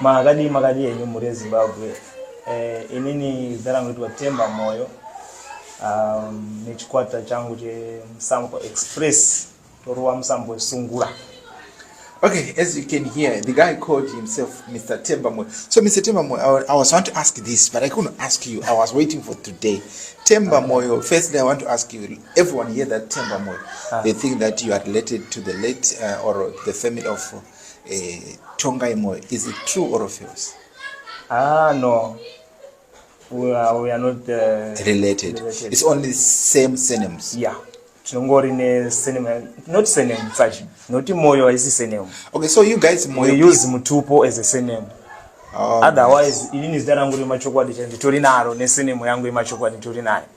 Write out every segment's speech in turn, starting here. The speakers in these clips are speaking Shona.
Makadii makadii henyu mhuri yeZimbabwe. Eh, inini zita rangu itwa Temba Moyo um, nechikwata changu chemusambo express toruwa musambo wesungura Okay, as you can hear, the guy called himself Mr. Tembamwe. So, Mr. Tembamwe, I, I was want to ask this, but I couldn't ask you. I was waiting for today. Tembamwe, firstly, I want to ask you, everyone here that Tembamwe, uh, ah. they think that you are related to the late uh, or the family of Eh, tongai moyo is it true or false ah no we are, we are not uh, related. related it's only same surnames yeah tinongori ne surname not surname sachi noti moyo haisi surname okay so you guys moyo we use mutupo as a surname oh, otherwise inini zita rangu remachokwadi chaivo nditori naro nesenemo yangu yemachokwadi nditori nayo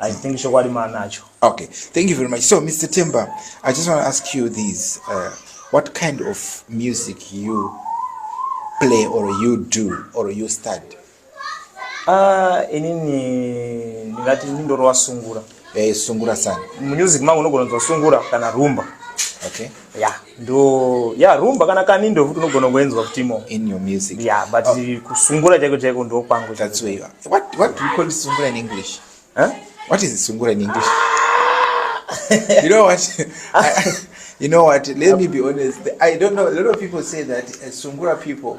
I think chokwadi maanacho. Okay, thank you very much. So Mr. Temba, I just want to ask you this. Uh, what kind of music you play or you do or you study? Ah, uh, inini ndingati ndindorova sungura. Eh, sungura sana. Music mangu unogona kunzwa sungura kana rumba. Okay. Yeah. ndo ya rumba kana kani ndo futi unogona kuenzwa kutimo in your music yeah but oh. kusungura chaiko chaiko ndo kwangu that's where you are what what do you call sungura in english huh what is sungura in english you know what you know what let me be honest i don't know a lot of people say that uh, sungura people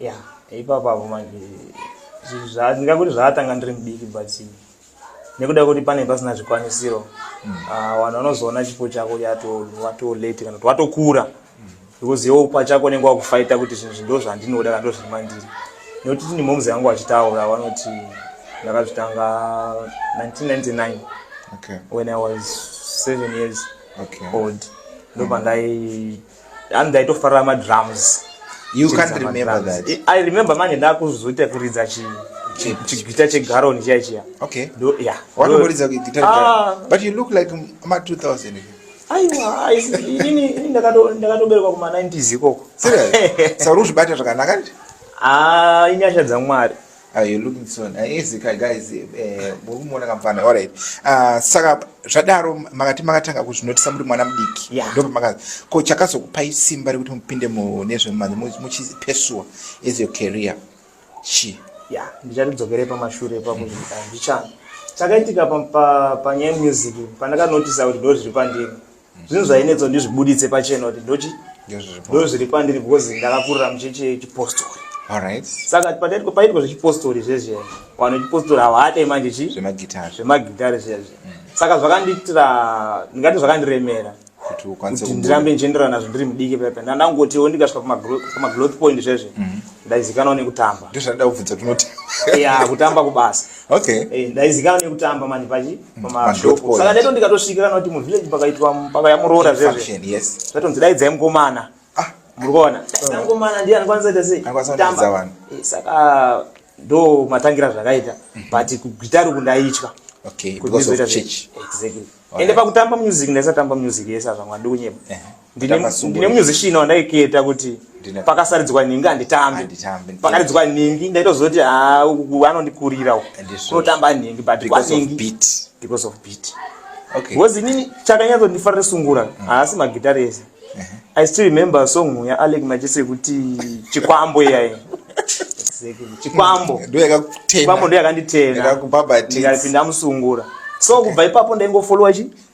ya ipapo apo manje ndingakuti zvaatanga ndiri mudiki but nekuda kuti pane pasina zvikwanisiro hmm. ah, vanhu vanozoona chipo chako watolate kana kuti watokura because iwo pachako unenge wakufaita kuti zvinhu zvindo zvandinoda kana ndozviri mandiri nekuti tini moms yangu vachitaura vanoti ndakazvitanga 1999 okay. when i was seven years okay. old ndopandai and ndaitofarira madrums you can't remember that I, i remember manje ndakuzoita kuridza chi chigita chegaron chiya chiya okay do yeah watoridza guitar ah. but you look like ma 2000 aiwa ini ndakatoberekwa kuma 90s ikoko sauri uzvibata zvakanaka nje ah inyasha dzamwari Are you looking so nice guys eh, muri kumuona kamfana alright ah, saka zvadaro makati makatanga kuzvinotisa muri mwana mudiki ndopamakazi ko chakazokupai simba rekuti mupinde mune zvemanje muchipesuwa as your career chi ya ndichatidzokere pamashure pakuti ndichani chakaitika panyaya yemusic pandakanotisa kuti ndo zviri pandiri zvinhu zvainetsa kuti ndizvibuditse pachena kuti ndochi ndozviri pandiri because ndakakurira muchechi yechipostori saka paitwa zvechipostori zvezviya vanhu vechipostori havaate manje chi zvemagitare zviya zviya mm. saka zvakandiitira ndingati zvakandiremera kuti ndirambe ndichienderana nazvo ndiri mudiki pepe ndandangotiwo ndikasvika pamagloth point zvezve mm-hmm. ndaizikanwa nekutamba ya kutamba kubasa eh, ndaizikanwa nekutamba mani pachi saka ndaito ndikatosvika kana kuti muvillage pakaitwa paka yamuroora zvezve zvatonzi daidzai mukomana ah. muri kuona daidzai mukomana ndiye anokwanisa ita sei kutamba eh, saka ndo matangira zvakaita mhm. but kugitari uku ndaitya ende pakutamba music ndaisatamba music yese azvamwa ndikunyepa ndine musician wandaiketa kuti pakasaridzwa nhingi handitambe pakaridzwa nhingi ndaitozoti ah, anondikurira kunotamba nhingi butbecause inini chakanyatsondifarira sungura mm. haasi magitari ese uh-huh. i still remember song yaalek machese yekuti chikwambo iyai chikwambo chikwambo ndoyakanditenapinda musungura so kubva ipapo ndaingofolowa chi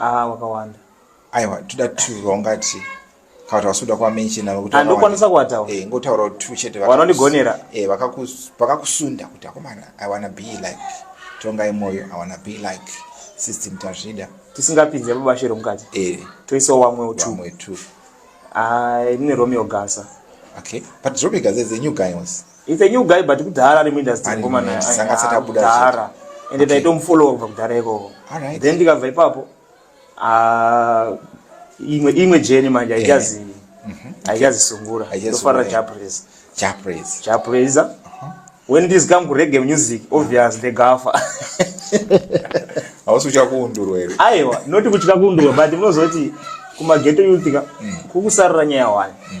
ah wakawanda aiwa toda two vaunga tii kana kuti vasuda kwamenshina nokuti andokwanisa kuwataura eh ngotaura kuti two chete vanondigonera eh vakakus vakakusunda kuti akomana i wanna be like tongai moyo i wanna be like system tazvida tisingapinze mubashe romukati eh toisa wamwe utu wamwe two ah ine romeo gasa okay but romeo gasa is a new guy was It's a new guy but kudhara ari muindustry ngomana kudhara ende taitomufolowa kubva kudhara ikoko then ndikabva ipapo ah, imwe imwe jeni manje aichazi mhm. aichazisungura ndofarira japresa japresa japresa uh-huh. when this come kurege music obvious ndegafa hausi kutya kuundurwa here aiwa noti kutya kuundurwa but munozoti kumageto youthika mm. kukusarira nyaya wani mm.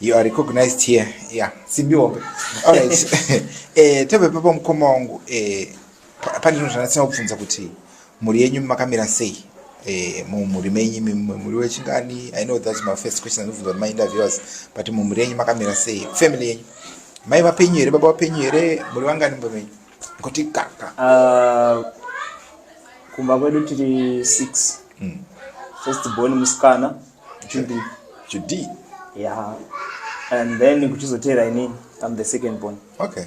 You are recognized here. Yeah, Simbi Wombe. All right. eh, tebe papa mkoma wangu eh pandi no zvanasina kubvunza kuti muri yenyu makamira sei? Eh, mu muri menyi muri wechingani? I know that's my first question and for my interviewers, but mu muri yenyu makamira sei? Family yenyu. Mai vapenyu here, baba vapenyu here, muri vangani mbo menyu? Kuti kaka. Uh, kumba kwedu tiri 6. Mm. First born musikana. Judy. Judy. Yeah. And then kuchizotera ini I'm the second born. Okay.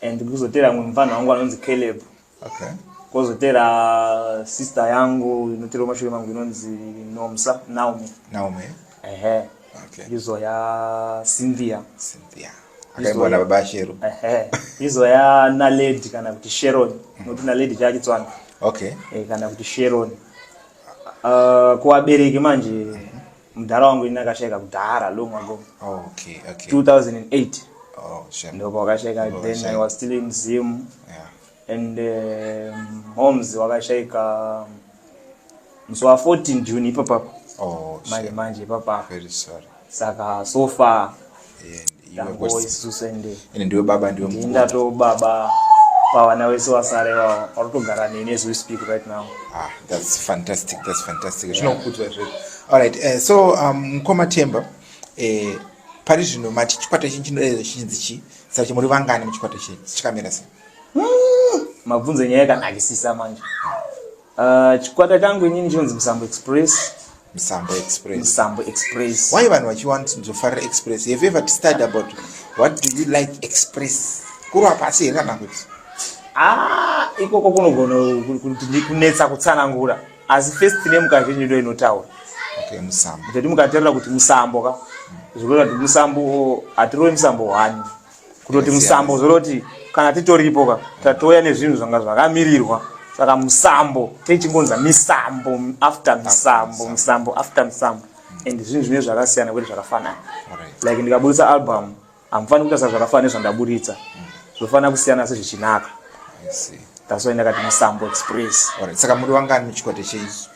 And kuchizotera mwe mfana wangu anonzi Caleb. Okay. Kozotera sister yangu inotera mashure mangu inonzi Nomsa Naomi. Naomi. Ehe. Okay. Izo ya Cynthia. Cynthia. Akaibona baba Shero. Ehe. Izo ya Naledi kana kuti Sharon. Mm. Nokuti Naledi chachitswana. Okay. Eh kana kuti Sharon. uh, kuvabereki manje mm -hmm. mudhara wangu ini akashaika kudhara long ago okay, okay. 2008 oh, sure. ndoko wakashaika oh, then sure. i was still in zim yeah. and um, homes wakashaika musi wa 14 june ipapapo oh, manje sure. manje ipapapo saka so far ine ndiwe baba ndiwe ndatowo baba pavana wese wasare vavo varikutogara neni as we speak right now ah, that's fantastic that's fantastic zvinokudzwa yeah. zvee alright uh, so um, mkoma um, temba uh, eh, pari zvino mati chikwata chinyi chinodaidza chinzi chi sachi muri vangani muchikwata chenyu chikamira sei hmm, mabvunzo nyaya yakanakisisa manje Uh, chikwata changu inini chinonzi Musambo Express. Musambo Express. Musambo Express. Why vanhu vachiwant nzofarira Express? Have you ever studied about what do you like Express? Kurwa pasi here kana kuti? Ah, ikoko kunogona kunetsa kutsanangura. Asi first name kazhinji ndo inotaura. Okay, Musambo. Kuti mukaterera kuti Musambo ka. Zvikureva kuti Musambo atirowe Musambo wani. kutoti musambo zvoroti kana titoripo ka tatouya nezvinhu zvanga zvakamirirwa saka musambo techingonza misambo after misambo musambo after musambo and zvinhu zvine zvakasiyana kwete zvakafanana like ndikaburitsa album hamufaniri kuita sa zvakafanana nezvandaburitsa zvofanira kusiyana se zvichinaka that's why ndakati musambo express saka muri wangani muchikwate cheizvi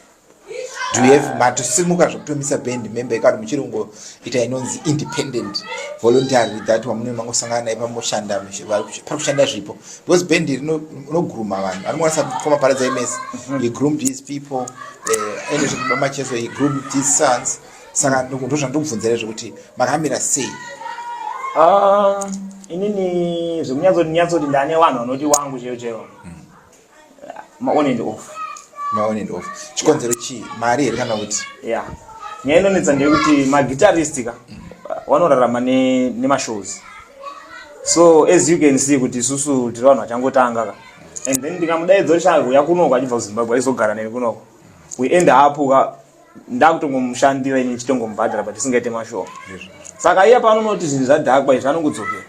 do you have matosimuka zvekutomisa band member ikati muchiri kungoita inonzi independent voluntary that wamunoi mangosangana naye pamoshanda pari kushanda zvipo because band iri inogrooma vanhu anokwanisa kukoma pari dzaimesi mhm. he groomed his people eh, ende zvekuba macheso he groomed his sons saka ndo zvandikubvunzira zvekuti makamira sei ah, inini zvekunyatsoti nyatsoti ndane vanhu vanoti wangu chero chero mm. ma on and off ma on and off chikonzero chii mari here kana kuti ya nyaya inonetsa ndeyekuti maguitarist ka vanorarama nemashows so as you can see kuti isusu tiri vanhu vachangotanga ka and then ndikamudaidza kuti chaakuuya kunoko achibva kuzimbabwe aizogara neni kunoko we end up ka ndakutongomushandira ini ndichitongomubhadhara but isingaite mashoo saka iye paanonoti zvinhu zvadhakwa izvi anongodzokera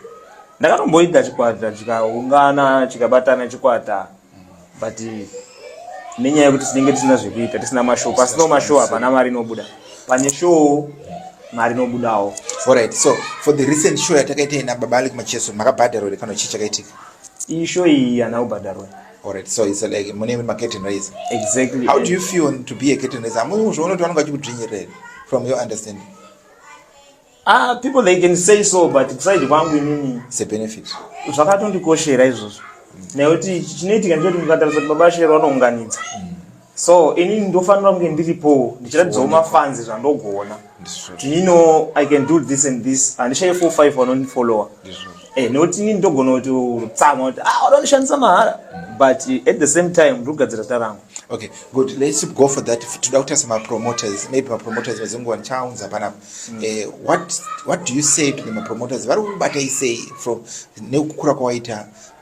ndakatomboita chikwata chikaungana chikabatana chikwata but nenyaya yekuti tinenge tisina zvekuita tisina mashoo pasino mashoo hapana mari inobuda pane shoo mari inobudawo alright so for the recent show yatakaita ina baba alek macheso makabhadharwa here kana chii chakaitika iyi show iyi hana kubhadharwa Alright, so it's like mune ma curtain raiser. Exactly. How do you feel to be a curtain raiser? Amwe uzvoona kuti vanenge vachikudzvinyirira from your understanding. Ah, people they can say so but kuside kwangu inini it's a benefit. Zvakatondikoshera izvozvo. Mm. Nekuti chinoitika ndechoti mukatarisa kuti baba Shero vanounganidza. Mm. so ini ndofanira kunge ndiripo ndichiratidzawo mafanzi zvandogona tino i can do this and this handishaye four five vanondifollower eh, nekuti ini ndogona kuti rutsama kuti ah vanondishandisa mahara but at the same time ndiri kugadzira zita rangu okay good let's go for that toda kutarisa mapromoters maybe mapromoters vadzinguva ndichaunza panapa mm. eh, what, what do you say to the mapromoters vari kubatei sei from nekukura kwawaita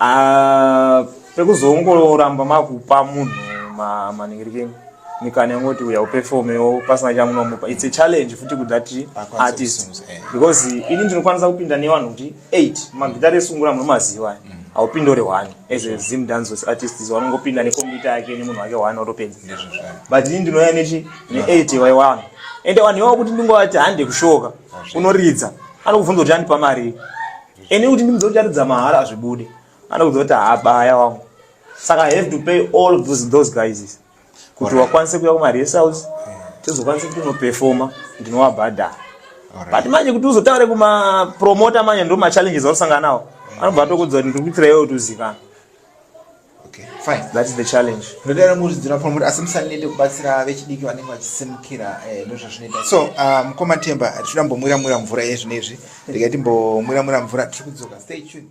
Ah, pekuzongoramba makupa munhu maningirikeni mikana yongoti uya uperformewo pasina chamunomupa its a challenge futi kudati artist eh. because ini ndinokwanisa kupinda nevanhu kuti eight magitari esungura munomaziva eh. mm. haupindi uri one as a zim dances artists vanongopinda nekombiyuta yake nemunhu wake one otopedza but ini ndinouya nechi neeight wai one ende vanhu ivavo kuti ndingovati hande kushoka unoridza anokubvunza kuti andipa marii Eni kuti ndimudze kuti atidza mahara azvibude. Anokudza kuti haabaya wangu. Saka I have to pay all of those, those guys. Kuti wakwanise kuya kuma rest house. Tizokwanise kuti unoperforma ndinovabhadhara. But manje kuti uzotaure kuma promoter manje ndo ma challenges anosangana nawo. Anobva atokudza kuti ndikuitira iwe kuti uzikane. asi musanete kubatsira vechidiki vanenge vachisimukira eh, ndozvazvinoita so ah, mukoma temba tichida mbomwira mwira mvura yezvino izvi regai timbomwira mwira mvura tiri kudzoka stay tuned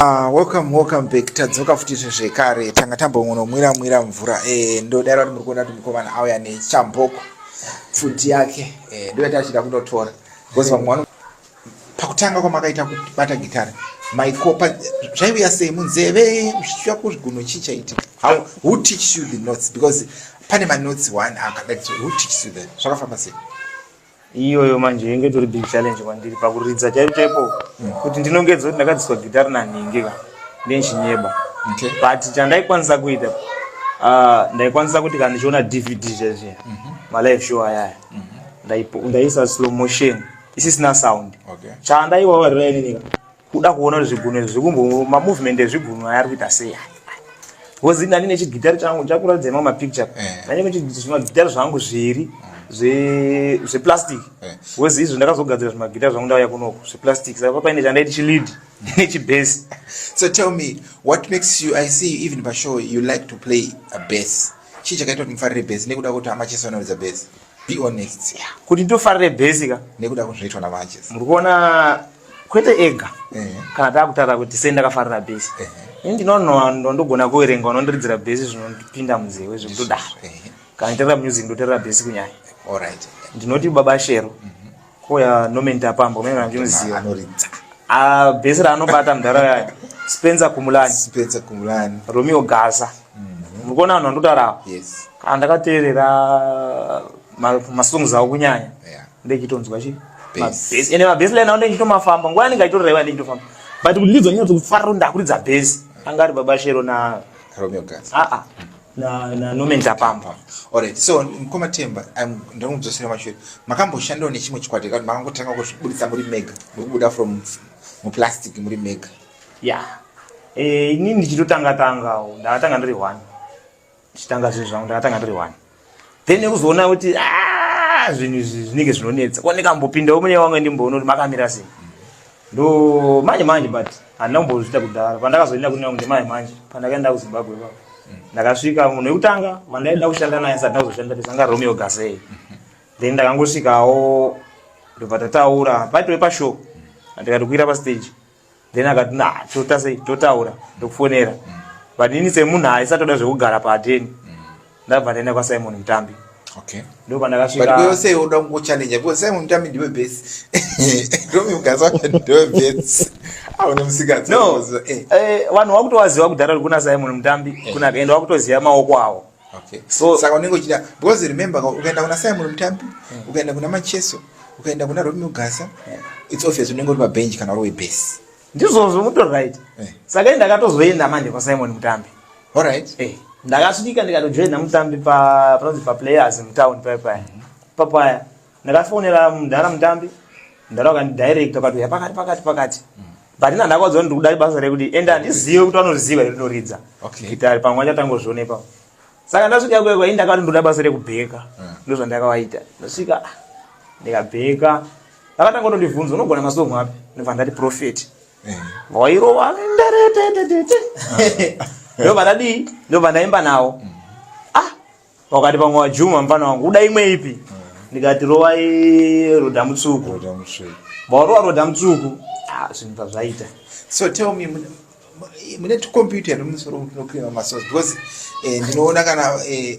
Ah, welcome welcome back tadzoka futi zvekare tanga tambongonomwira mwira mvura eh, ndodaro kuti muri kuona kuti mukomana auya nechamboko pfuti yake eh, ndoyati achida kunotora because vamwe pakutanga kwamakaita kubata gitare maikopa zvaiuya sei munzeve zvichiva kuzvigunhu chii chaitika how who teach you the notes because pane manotes one akadati who teach you that zvakafamba sei iyoyo manje inge tori big challenge kwandiri pakuridza chaipo chaipo hmm. kuti ndinongedza kuti ndakadziswa gitare nanhingi ka ndenchinyeba but chandaikwanisa kuita ah, ndaikwanisa kuti kana ndichiona dvd zvezviya mhm. malive show ayaya mhm. ndaiisa slow motion mm -hmm. isisina sound okay. chandaiwavariraininika kuda kuona kuti zvigunwe zvikumbo mamovement ezvigunwe aya ari kuita sei bcause ndani nechigitari changu chakuratidza imwe mapicture eh. ndani nezvimagitari zvangu zviri zveplastic bcause eh. izvo ndakazogadzira zvimagitari zvangu ndauya kunoko zveplastic saka papaine chandaiti chilidi nechibase so tell me what makes you i see even pashow you like to play a base chii chakaita kuti mufarire base nekuda kuti amachesanoridza base be honest yeah. kuti ndofarire bhesi ka nekuda kuzviitwa namanches muri kuona kwete ega eh. kana takutaura kuti sei ndakafarira bhesi eh. ini ndinonondo ndogona kuverenga unondiridzira bhesi zvinondipinda munzewe zvekutodaro eh. kana nditerera music ndoterera bhesi kunyaya ndinoti baba shero mm. Koya Norman Tapambo mimi namjumziwa. Anoridza. Ah base ra anobata mdara yaya. Spencer Kumulani. Spencer Kumulani. Romeo Gaza. Mhm. Mukona vanhu vandotarawo. Yes. Kana ndakateerera masongs awo kunyanya. Yeah. Ndechitonzwa chi. Base. Ene ma base line awo ndechitomafamba. Nguva yanenge aitoreva ndechitomafamba. But kuti ndizonyatso kufarira ndakuridza base. Angari baba Shero na Romeo Gaza. Ah ah. na na Norman Tapambwa. Alright. So mkoma Temba, I'm ndiri kudzosera mashure. Makamboshandawo nechimwe chikwata kana makangotanga kuzvibudisa muri mega, mukubuda from mu plastic muri mega. Yeah. Eh, ini ndichitotanga tanga, ndakatanga ndiri one. Ndichitanga zvinhu zvangu ndakatanga ndiri one. Then nekuzoona kuti ah zvinhu izvi zvinenge zvinonetsa. Kuoneka mbopinda umwe wangu ndimboona kuti makamira sei. ndo manje manje but handina kumbozviita kudhara pandakazoenda kunena kunge manje manje pandakaenda kuzimbabwe pa ndakasvika munhu wekutanga vandaida kushanda naye sati ndakuzoshanda tisanga romeo gasey then ndakangosvikawo ndobva tataura paitove pashow ndikati kuira pastage then akati na totasei totaura ndokufonera but ini semunhu aisatoda zvekugara paateni ndabva ndaenda kwasimon mutambi okay ndo pandakasvika but wewe sei unoda kungo challenge because simon mutambi ndiwe base romi mkaza ndiwe base aune ah, musikadzi no eh. eh vanhu wakutowaziwa kudhara kuna simon mutambi eh. kuna kaenda wakutoziva maoko awo okay so saka unenge uchida because remember ukaenda kuna simon mutambi hmm. ukaenda kuna macheso ukaenda kuna romi mugasa eh. it's obvious unenge uri pabench kana uri webase ndizvozvo muto right eh. saka ndakatozoenda manje kwasimon mutambi Alright. Eh, ndakasvika ndikatojoina mutambi pa panonzi pa players mutown paya paya. Mm -hmm. Papaya. Ndakafonera mudhara mutambi. Mudhara wakandi direct wakati uya pakati pakati pakati. Mm -hmm. But ina ndakwadzo ndi kudai basa rekuti enda ndizive kuti vanoziva here rinoridza. Okay. Gitari pamwe achatanga kuzvioneka. Saka ndasvika kwe kwa inda kati ndoda basa rekubheka. Mm. Ndizvo zvandakawaita. Ndasvika ndikabheka. Vakatanga kutondibvunza unogona masongo api? Ndibva ndati prophet. Mm. wairova ndo vandadii ndo vandaimba nawo mm. ah wakati pamwe wajuma mfana wangu uda imwe ipi mm. ndikati rovai roda mutsuku vaurova roda mutsuku ah, zvinhu pazvaita so tell me mune tukompyuta here mumusoro mutinocleana masos because eh, ndinoona kana eh,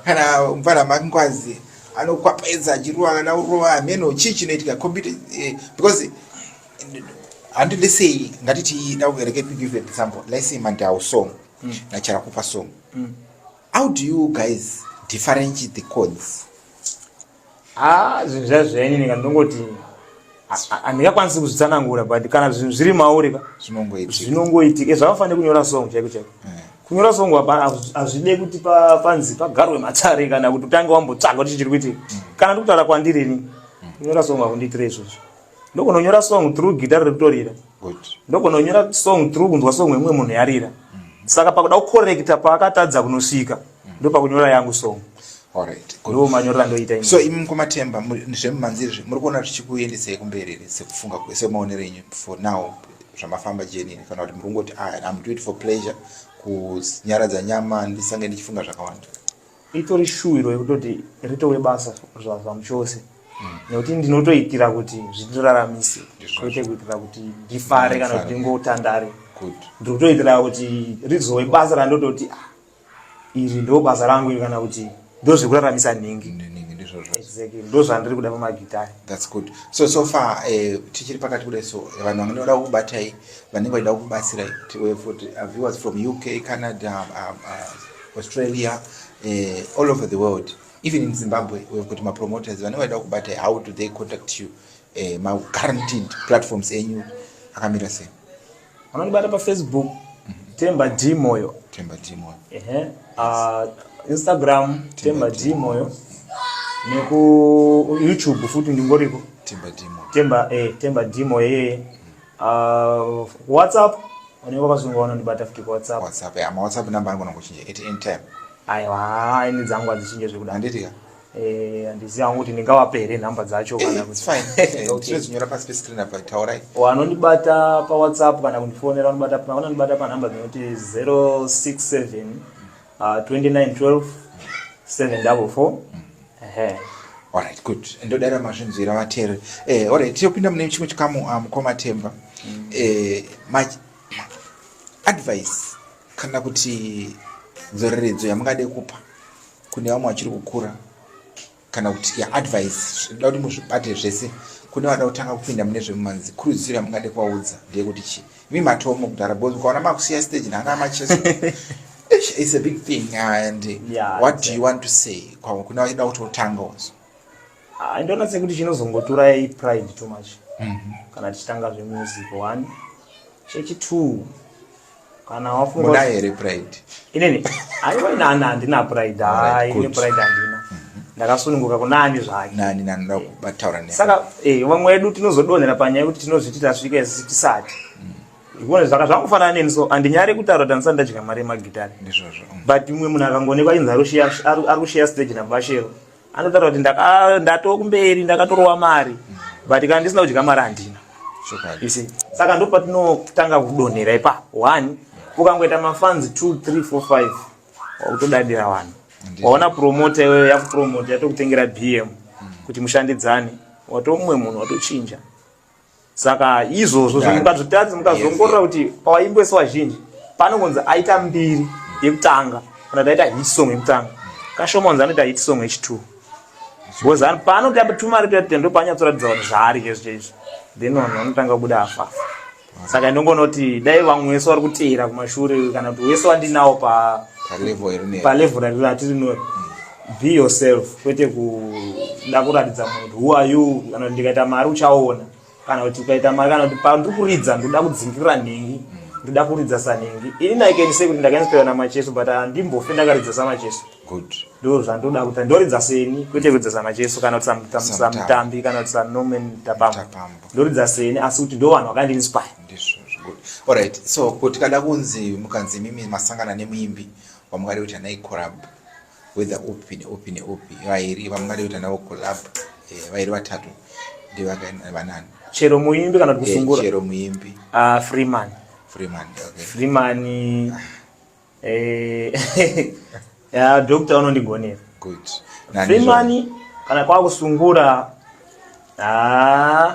kana mfana makingwazi anokwapaedza achirova kana urova hameno chii chinoitika computer eh, because handi let's say ngatiti dauvereke to give an example let's say mandau song mm. nacharakupa song mm. how do you guys differentiate the codes ah zvinhu zva zvenyu nika ndongoti handingakwanisi kuzvitsanangura but kana zvinhu zviri mauri ka zvinongoitika zvakafanira kunyora song chaiko chaiko mm. kunyora song hazvide kuti panzi pagarwe matare kana kuti utange wambotsvaga kuti chiri kuitika mm. kana ndikutaura kwandiri ini mm. kunyora song hakundiitire izvozvo ndokunonyora song through guitar rekutorira ndokunonyora song through kunzwa song yemumwe munhu yarira saka pakuda kukorekta paakatadza kunosvika ndopakunyora yangu song ndo manyorera ndoita so imi mkomatemba zvemumanzizvi muri kuona zvichikuendesei kumberi sekufunga semaonero enyu for now zvamafamba jenini kana kuti muri kungoti ah, am doit for pleasure kunyaradza nyama ndisange ndichifunga zvakawanda itori shuwiro yekutoti ritowe basa zvamuchose mm. nekuti ndinotoitira kuti zvindiraramise kwete kuitira kuti ndifare kana kuti ndingotandare ndiri kutoitira kuti rizowe basa randototi ah, iri ndo basa rangu iri kana kuti ndo zvekuraramisa nhingi ndozvandiri kuda pamagitari thats good so so far eh, tichiri pakati kudai so eh, vanhu vange vada kukubatai vanenge vachida kukubatsirai tiwe futi uh, viewers from uk canada um, uh, Australia, uh, all over the world. Even in Zimbabwe, we've got my promoters. When I talk about how do they contact you, uh, my guaranteed platforms in you, akamira sei? Anonibata pa Facebook, Temba D Moyo. Temba D Moyo. Uh -huh. uh, Instagram, Temba D Moyo. Neku YouTube futi ndingoriko. Temba D Moyo. Temba, eh, Temba D Moyo. uh, whatsapp unenge wakazonga unondibata futi kuwhatsapp whatsapp ya ma whatsapp number anogona kuchinja at any time aiwa ini dzangu hadzichinje zvekuda handiti ka eh, handiziva hangu kuti ndingavape here nhamba dzacho eh, kana kuti tinozinyora eh, pasi pescreen apa taurai wanondibata pawhatsapp kana kundifonera vanondibata panhamba dzinoti 067 uh, 29 12 7 double 4 mm. ehe alright good ndodara mazvinzwira vatere eh, alright tiyopinda mune chimwe chikamu uh, mukoma temba mm. eh, ma, ma, advice kana kuti dzoreredzo yamungade kupa kune vamwe vachiri kukura kana kuti yaadvice zvinoda kuti muzvibate zvese kune vada kutanga kupinda mune zvemumanzi kurudziro yamungade kuvaudza ndeyekuti chi imi matomo kudhara bos ukaona makusiya stage nana macheso it's a big thing and yeah, what do you want to say kune vachida kuti otanga ozo ah, ndoona sekuti chinozongotura ipride too much mm -hmm. kana tichitanga zvemusic one chechitwo kana wafunga muda here pride inini aiwa nana handina pride hai ine pride handina mhm. ndakasununguka kunani zvake nani nani ndakubataura ne saka eh vamwe wedu tinozodonhera panyaya yekuti tinozviti tasvika isi tisati mm. ikuona zvaka zvakufanana neni so andinyare kutaura kuti andisati ndadya mari yemagitari ndizvozvo mm. but umwe munhu akangonekwa inzi ari kushiya stage nabashero anotaura kuti ah, ndatoo kumberi ndakatorova mari but kana ndisina kudya mari handina saka ndo patinotanga kudonhera ipa one ukangoita mafanzi two three four five wakutodadira vanhu waona promota iweyo yakupromota yatokutengera bm kuti mushandidzane watomumwe munhu watochinja saka izvozvo zvemukazvitaridza mukazongorora kuti pawaimbwesa vazhinji panongonzi aita mbiri yekutanga kana taita hit song yekutanga kashoma onzi anoita hit song yechitwo because paanoti apatuma ari kuita ndo paanyatsoratidza kuti zvaari izvo chaizvo then vanhu vanotanga kubuda afafa saka ndongonoti dai vamwe wese vari kuteera kumashure kana kuti wese wandinawo palevel ratirinori be yourself kwete kuda kuratidza munhu who are you kana kuti ndikaita mari uchaona kana kuti ukaita mari kana kuti pandiri kuridza ndoda kudzingirira nhingi ndoda kuridza sanhingi ini naikenise kuti ndakainspira namacheso but handimbofe ndakaridza samacheso ndo zvandoda kuita ndoridza seni kwete kuridza samacheso kana kuti samutambi kana kuti sanomen tapambo ndoridza seni asi kuti ndo vanhu vakandiinspire orit so ko tikada kunzi mukanzi imimi masangana nemuimbi vamwari kuti anai collab whether upi neupi neupi vairi vamwari kuti anavo collab eh, vairi vatatu ndivakavanani chero muimbi kana kuti eh, kusungura chero muimbi ah, freeman freeman okay freeman eh ya doctor unondigonera good freeman kana kwa kusungura ah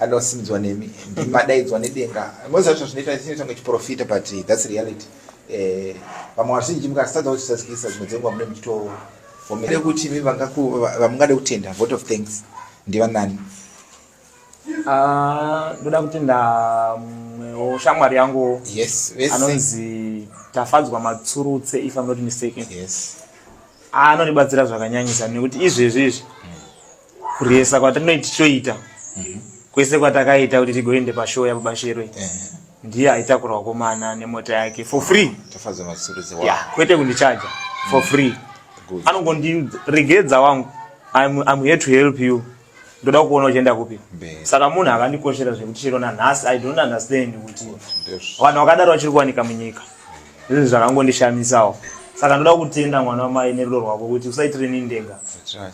anosimbdzwa nemi ndimadaidzwa nedenga most zvacho zvinoita zvinoita kunge chiprofita but thats reality eh, vamwe vazhinji mukasatadza kuchisazikisa dzimwe dzenguva mune muchitoomere kuti mi vamungade kutenda vote of thanks ndivanani ah, ndoda kutenda mwewo shamwari yangu anonzi tafadzwa matsurutse if am not mistaken anondibatsira zvakanyanyisa nekuti izvezvi izvi kuresa kwatinoiti choita mhm. kwese kwatakaita kuti tigoende pashow yababashero eh. ndiye aitakura wakomana nemota yake for free yeah, kwete kundichaja for mhm. free anongondiregedza wangu I'm, I'm here to help you ndoda kuona uchienda kupi saka munhu akandikoshera zvekuti chero nanhasi i don't understand kuti vanhu vakadaro vachiri kuwanika munyika Izvi zvakangondishamisawo. Saka ndoda kutenda mwana wamai nerudo rwako kuti usaitire ni ndenga.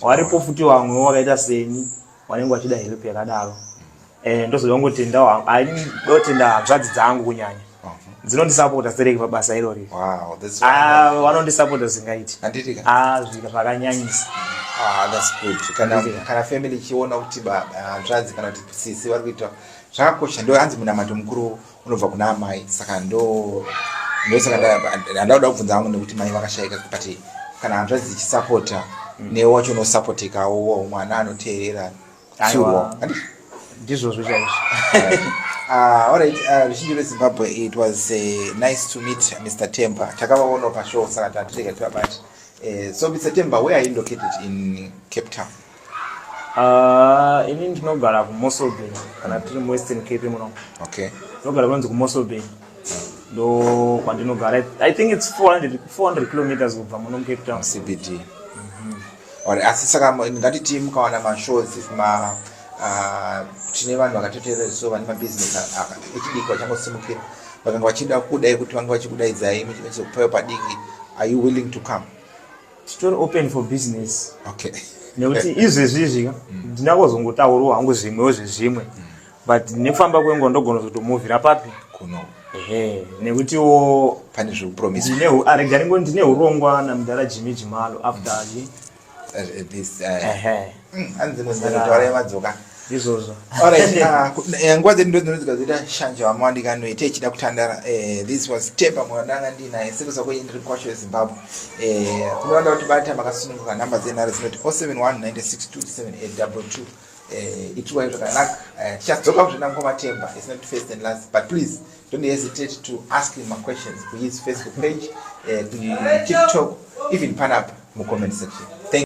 Waripo futi wamwe wakaita seni wanenge wachida help yakadaro. Eh ndozoda kungotendawo. Ai ndotenda hanzvadzi dzangu kunyanya. dzinondisapota dzireke pabasa irori ah, vanondisapota zingaiti ah, zvika zvakanyanyisa ah, kana family ichiona kuti baba hanzvadzi kana kuti sisi vari kuita zvakakosha ndo hanzi munamato mukuru unobva kuna amai saka ndo ndosaka ndauda kubvunza hangu nekuti mai vakashayika but kana hanzvadzi dzichisapota mm. newe wacho unosapotekawo mwana anoteerera tiwo ndizvozvo chaizvo ah, alright ah, ruzhinji rwezimbabwe it was eh, nice to meet mr temper takavaonawo pashow saka tatirega tivabati eh, so mr temper where are you located in cape town Ah, ini ndinogara kumosobay kana tiri muwestern cape muno okay ndinogara kunonzi kumosobay hmm. ndo kwandinogara i think its 400 400 kilometers kubva muno mucape town cbd mhm. or asi saka ngatiti mukawana mashows ma ah, tine vanhu vakatoteerera so vane mabusiness echidiki vachangosimukira vakanga vachida kudai kuti vange vachikudaidzai mechizokupaiwa padiki are you willing to come titori open for business okay nekuti izvezvi izvi ka mm. ndina kuzongotaurawo hangu zvimwewo zvezvimwe mm. but nekufamba kwenguva ndogona kuzotomuvhira papi kuno ehe nekutiwo pane zvekupromisa aregaringo ndine urongwa namudhara jimmy jimalo after mm. uh, uh, this, uh, hanzi munhu anotaura yemadzoka izvozvo alright ah, eh, nguva dzedu ndodzinodzoka zoita shanje vama wandikanoita ichida kutandara eh, this was temper mwananga ndinaye sekuza kwenye ndiri kwacho yezimbabwe eh, kunoona kuti bata makasununguka nhamba dzenhare dzinoti 071962782 itiwai zvakanaka tichadzoka kuzvina mukoma temba is not first and last but please don't hesitate to ask him maquestions kuhis facebook page kutiktok even panapa mucomment section